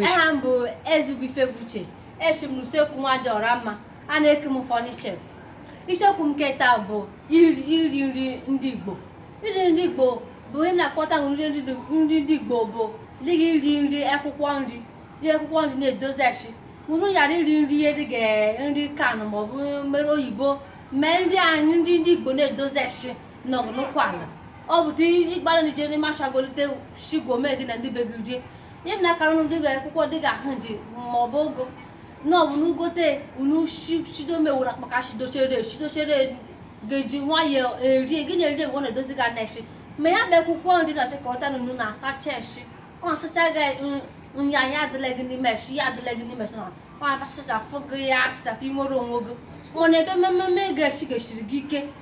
aha m bụ Ezigbo Ifebuche eshi m n'usekwu nwadị Ọramma a na-eke m Funny Chef isiokwu m nke taa bụ iri nri ndị Igbo iri nri ndị Igbo bụ ihe na-akpọta nri ndị Igbo bụ dịga iri nri akwụkwọ nri ihe akwụkwọ nri na-edozi eshi unu ghara iri nri ihe dịga nri can maọbụ mmere oyibo mee nri anyị nri ndị Igbo na-edozi eshi nọgụ n'ụkwụ ala ọ bụ dị ịgbara na ị je n'ime ashụa golite shigome gị na ndị be gị ihe m na-akara unu dịga akwụkwọ dịga ahụnji ma ọ bụ ụgụ na ọ bụ unu gote unu shido mewụrụ akpaka shidochere shidochere ga-eji nwayọọ erie gị na-eri egbe ọ na-edozi gị n'eshi ma ya bụ akwụkwọ nri na-achị ka ọta nunu na-asacha eshi ọ na-asacha gị nya ya adịla gị n'ime eshi ya adịla gị n'ime eshi na ọ na-abasachafụ gị ya asachafụ i nwere onwe gị mana ebe mmemme ga-eshi ga-esiri gị ike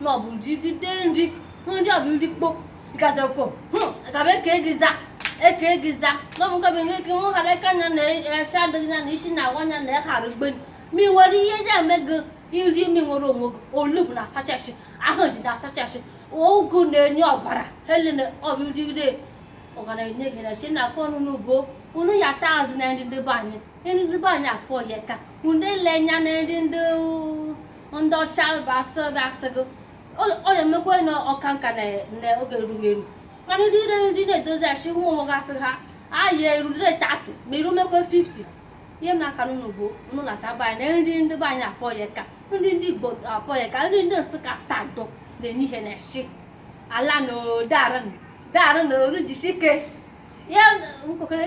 na ọ bụ gị rigide nri ndị ọ bụ nri mkpọ ịkacha ko gabe ka gị za eka gị za na ọmụ gabe ihe ike nwa ghara aka nya na eshi adịghị ya na isi na-awa nya na ịghara gben ma ị nwere ihe eji eme gị iri imi nwere onwe gị olugbu na-asacha eshi ahụnji na-asacha eshi ụgụ na-enye ọbara hele na ọ bụ ị rigide ọ ga na-enye gị na chi na-aka unu bụ unu ya taa azụ na nri ndị be anyị nri ndị be anyị akpọ ya ka unu ele anya na nri ndị ndị ọcha bụ asị ebe asị gị ọ na-emekwa na ị ka nka na oge erughị eru mana ndị iri nri na-edozi eshi ụmụ onwe gị asị ha ayị erurire 30 ma i rumekwe 50 ihe m na-aka unu bụ unu lọta be anyị na nri ndị be anyị akpọ ya ka nri ndị Igbo akpọ ya ka nri ndị Nsụka sadọ na-enye ihe na shi ala na odarụ na oru jisi ike ya nkwekere